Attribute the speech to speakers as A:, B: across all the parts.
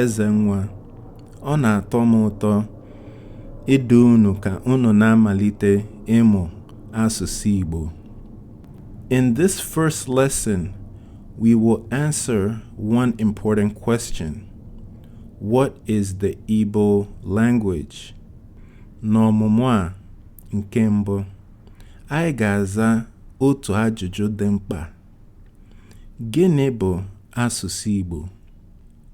A: Ezenwa. Ọ na-atọ m ụtọ idu unu ka unu na-amalite ịmụ asụsụ Igbo. In this first lesson, we will answer one important question. What is the Igbo language? N'ọmụmụ a nke mbụ, anyị ga-aza otu ajụjụ dị mkpa Gịnị bụ asụsụ Igbo?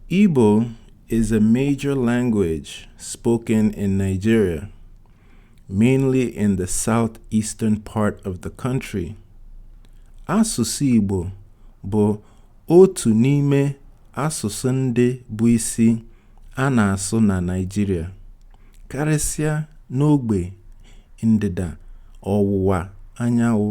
A: Igbo is a major language spoken in Nigeria, mainly in the southeastern part of the country. Asụsụ Igbo bụ otu n'ime asụsụ ndị bụ isi a na-asụ na Naịjirịa, karịsịa n'ogbe ndịda ọwụwa anyanwụ.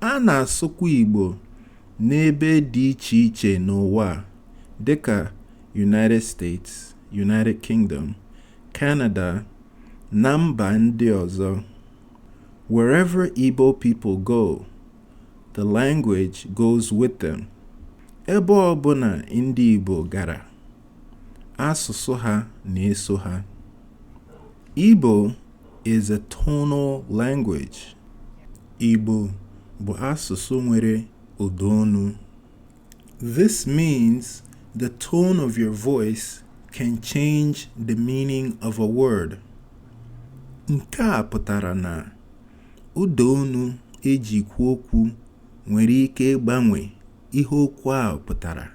A: A na-asụkwa Igbo n'ebe dị iche iche n'ụwa dịka United States, United Kingdom, Canada, na mba ndị ọzọ. Wherever Igbo people go, the language goes with them. Ebe ọbụla ndị Igbo gara, asụsụ ha na-eso ha. Igbo is a tonal language. Igbo bụ asụsụ nwere ụda olu. This means the tone of your voice can change the meaning of a word. Nke a pụtara na ụda olu eji kwuo okwu nwere ike ịgbanwe ihe okwu ahụ pụtara.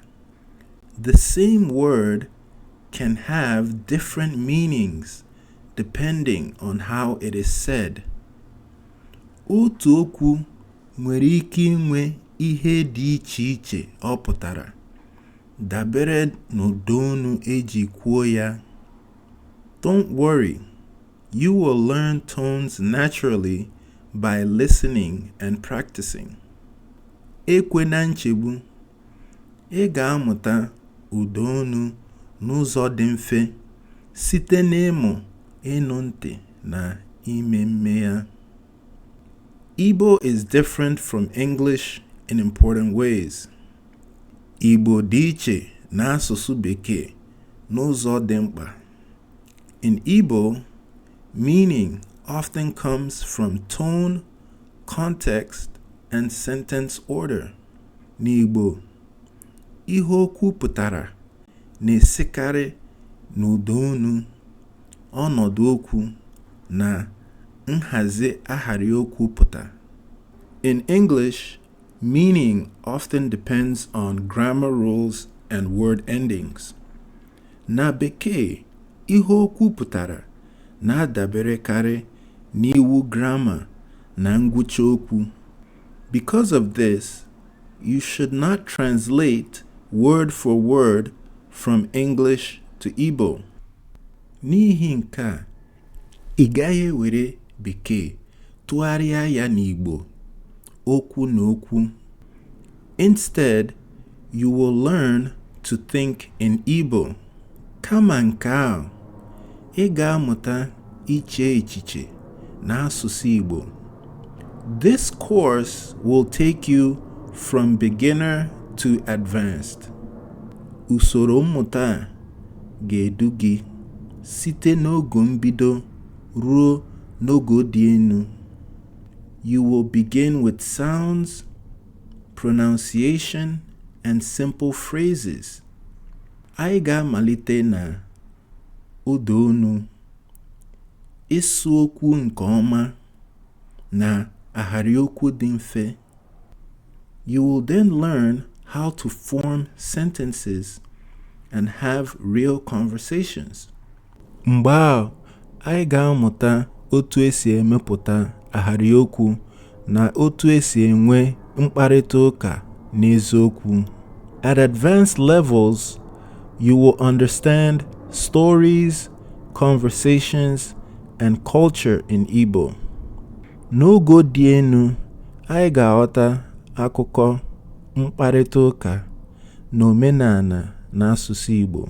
A: The same word can have different meanings depending on how it is said. Otu okwu nwere ike inwe ihe dị iche iche ọ pụtara dabere n'ụda olu eji kwuo ya. Don't worry, you will learn tones naturally by listening and practicing. Ekwena nchegbu Ị ga-amụta ụda olu n'ụzọ dị mfe site n'ịmụ ịnụ ntị na ime mme ya. Igbo is different from English in important ways. Igbo dị iche na asụsụ Bekee n'ụzọ dị mkpa. In Igbo, meaning often comes from tone, context, and sentence order. N'Igbo, ihe okwu pụtara na-esikarị n'ụdaonu, ọnọdụ okwu, na nhazi ahịrịokwu pụta. In English, meaning often depends on grammar rules and word endings. Na Bekee, ihe okwu pụtara na-adaberekarị n'iwu grama na ngwụcha okwu. Because of this, you should not translate word for word from English to Igbo. N'ihi nke a, ị gaghị ewere Bekee tụgharịa ya n'Igbo okwu na okwu. Instead, You will learn to think in Igbo. Kama nke ahụ, ị ga-amụta iche echiche n'asụsụ Igbo. This course will take you from beginner to advanced. Usoro mmụta a ga-edu gị site n'ogo mbido ruo n'ogo dị enu. You will begin with sounds pronunciation and simple phrases. Anyị ga-amalite na ụda onu, ịsụ okwu nke ọma na ahịrị okwu dị mfe. You will then learn how to form sentences and have real conversations. Mgbe ahụ, anyị ga-amụta otu e si emepụta ahịrịokwu na otu e si enwe mkparịta ụka n'eziokwu. At advanced levels, you will understand stories, conversations, and culture in Igbo. N'ogo dị enu, anyị ga-aghọta akụkọ, mkparịta ụka, na omenana na asụsụ Igbo.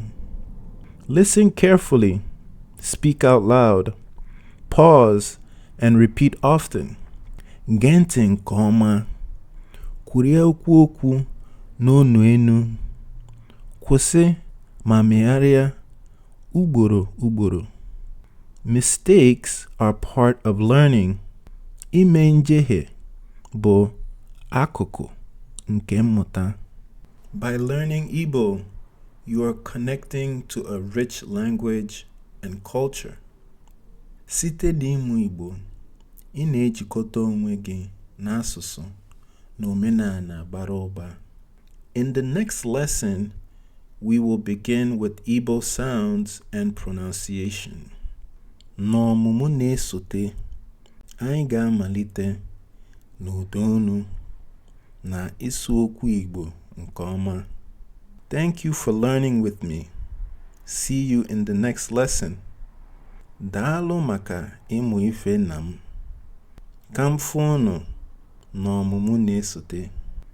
A: Listen carefully, speak out loud, pause and repeat often. Gee ntị nke ọma, kwurie okwu okwu n'onu enu, kwụsị ma megharịa ugboro ugboro. Mistakes are part of learning. Ime njehie bụ akụkụ nke mmụta. By learning Igbo, You are connecting to a rich language and culture. Site n'ịmụ Igbo, ị na-ejikọta onwe gị n'asụsụ na omenana bara ụba. In the next lesson, we will begin with Igbo sounds and pronunciation. N'ọmụmụ na-esote, Anyị ga-amalite n'ụda olu na ịsụ okwu Igbo nke ọma. Thank you for learning with me. See you in the next lesson. Daalụ maka ịmụ ife na m. Ka m fụ unu n'ọmụmụ na-esote.